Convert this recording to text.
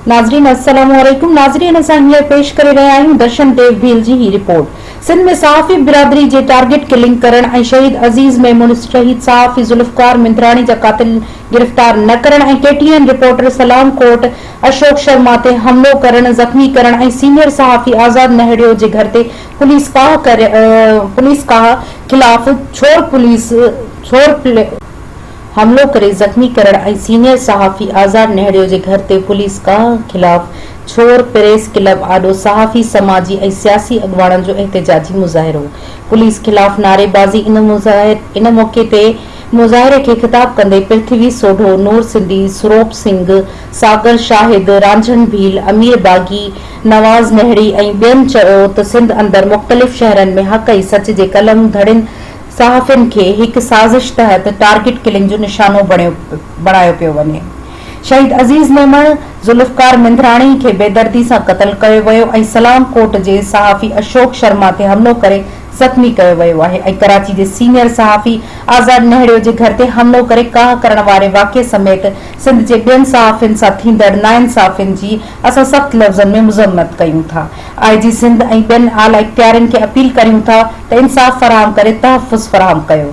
ناظرين السلام عليڪم ناظرين اسان هينئر پيش ڪري رهيا آهيون درشن ديو ڀيل جي هي رپورٽ سنڌ ۾ صحافي برادري جي ٽارگيٽ ڪلنگ ڪرڻ ۽ شهيد عزيز ميمون شهيد صحافي ذوالفقار مندراڻي جا قاتل گرفتار نه ڪرڻ ۽ K T N reporter Islamkot Ashok Sharma تي حملو ڪرڻ، زخمي ڪرڻ ۽ سينيئر صحافي آزاد مهڙيو جي گهر تي پوليس ڪاهه ڪري پوليس ڪاهه خلاف ڇور پوليس ڇور حملو ڪري زخمي ڪرڻ ۽ سينيئر صحافي آزاد نهڙيو جي گهر تي پوليس ڪاهه خلاف ڇور پريس ڪلب آڏو صحافي سماجي ۽ سياسي اڳواڻن جو احتجاجي مظاهرو پوليس خلاف نعريبازي ان موقعي تي مظاهري کي خطاب ڪندي پرٿوي سوڍو، نور سنڌي، سروپ سنگهه، ساگر شاهد، رانجهڻ ڀيل، امير باغي، نواز نهڙي ۽ ٻين چيو ته سنڌ اندر مختلف شهرن ۾ حق ۽ سچ جي قلم ڌڙين صحافين کي هڪ سازش تحت ٽارگيٽ ڪلنگ جو نشانو بڻايو پيو وڃي، شهيد عزيز ميمڻ، ذوالفقار مينڌراڻي کي بيدردي سان قتل ڪيو ويو ۽ سلام ڪوٽ جي صحافي اشوڪ شرما تي حملو ڪري زخمي ڪيو ويو آهي ۽ ڪراچي جي سينئر صحافي آزاد نهڙيو جي گهر تي حملو ڪري ڪاهه ڪرڻ واري واقعي سميت سنڌ جي ٻين صحافين سان ٿيندڙ ناانصافين جي اسان سخت لفظن ۾ مذمت ڪيون ٿا. آء جي سنڌ ۽ ٻين اعليٰ اختيارين کي اپيل ڪريون ٿا ته انصاف فراهم ڪري تحفظ فراهم ڪيو وڃي.